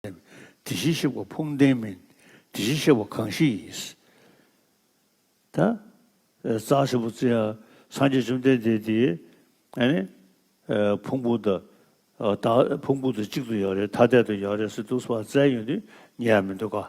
དེ་བཞིན་གཤེགས་པ་ཕུང་ལྡན་མིན། དེ་བཞིན་གཤེགས་པ་གང་ཞིག་ཡིན། རྩ་ཧྲིལ་པོ་རྩི། སངས་རྒྱས་བཅོམ་ལྡན་འདས་དེའི། ཕུང་པོ་དང། ཕུང་པོ་དང་གཅིག་ཏུ་ཡོད་རེད་ཐ་དད་དུ་ཡོད་རེད་སི་ཏུ་སི་བ་རྩའི་ཡོན་ཏན་ཉིད་ཡང་མི་འདོད་ཀ།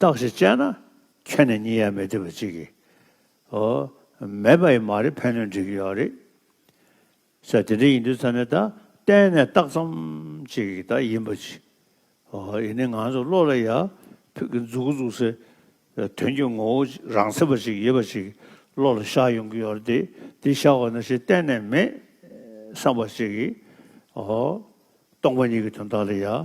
རྟགས་ཞེས་དཔྱད་ན་ཁྱོན་ནས་གཉིས་ཡ་མི་ཐུབ་པ་ཅིག་གིས་འོ། མེད་པ་ཡི་མ་རེད་ཕན་གནོད་འདྲེས་ཀྱི་ཡོད་རེད། ས་དེ་འདྲ་ཡིན་དུས་ཚང་ནས་ད་གཏན་ནས་རྟགས་ཙམ་ཅིག་ད་ཡིན་པ་ཅིག་འོ་ཡིན་ནི་ང་ཚོ་བློ་ལ་ཡ་ཕུད་ཀྱི་འཛུགས་འཛུགས་སའི་དོན་གྱི་ངོ་བོ་རང་ཚེ་བ་ཅིག་ཡོད་པ་ཅིག་བློ་ལ་ཤར་ཡོང་གི་ཡོད་རེད་དེ་འདི་ཤར་བ་ན་ཞེ་གཏན་ནས་མེད་བསམ་པ་ཅིག་གིས་འོ། སྟོང་པ་ཉིད་ཀྱི་དོན་དག་ལ་ཡ།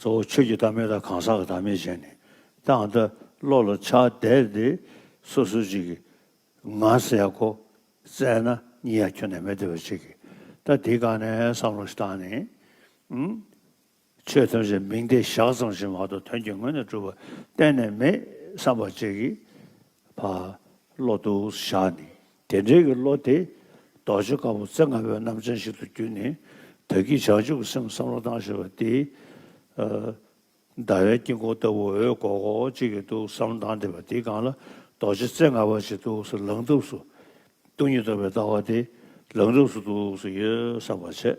གཙོ་བོ་ཆོས་ཀྱི་བདག་མེད་དང་གང་ཟག་གི་བདག་མེད་ཅན་ནི་དེ་འང་འདི་བློ་ལ་ཆགས་བསྡད་དེ་སོ་སོ་གཅིག་གིས་ང་ཟེར་ཡ་གོ་བཙལ་ན་གཉིས་ཡ་ཁྱོན་ནས་མེད་བདེ་བ་ཅིག་གིས་ད་འདི་གང་ནས་བསམ་བློ་བཏང་ནས་ཨང། ཆོས་ཐམས་ཅད་མིང་བརྡའི་བཞག་ཙམ་ཞིག་མ་གཏོགས་དོན་གྱི་ངོས་ནས་གྲུབ་པ་གཏན་ནས་མེད་བསམ་པ་ཅིག་གིས་བློ་འདུག་བཞག་ནས་དེ་འབྲེལ་གྱི་བློ་དེ་རྡོ་རྗེ་དཀར་པོ་རྩེ་ལྔ་པའི་རྣམ་གྲངས་ཤིག་ཏུ་བསྒྱུར་ནས་བདག་གིས་བྱང་ཆུབ་ཀྱི་སེམས་བསམ་བློ་བཏང་ཞེས་པ་འདི། ཟླ་བའི་དཀྱིལ་འཁོར་ལྟ་བུ་འོད་གོག་གོག་ཅིག་གིས་གཏུགས་སམ་མདངས་ལྡན་པ་འདིའི་སྒང་ལ་རྡོ་རྗེ་རྩེ་ལྔ་པ་ཞིག་གཏུགས་སུ་ལངས་གཏུགས་སུ་གཏུགས་ཉིད་རྟོགས་པའི་ལྟ་བ་དེ་ལངས་གཏུགས་སུ་གཏུགས་སུ་ཡོད་བསམ་པར་བྱེད།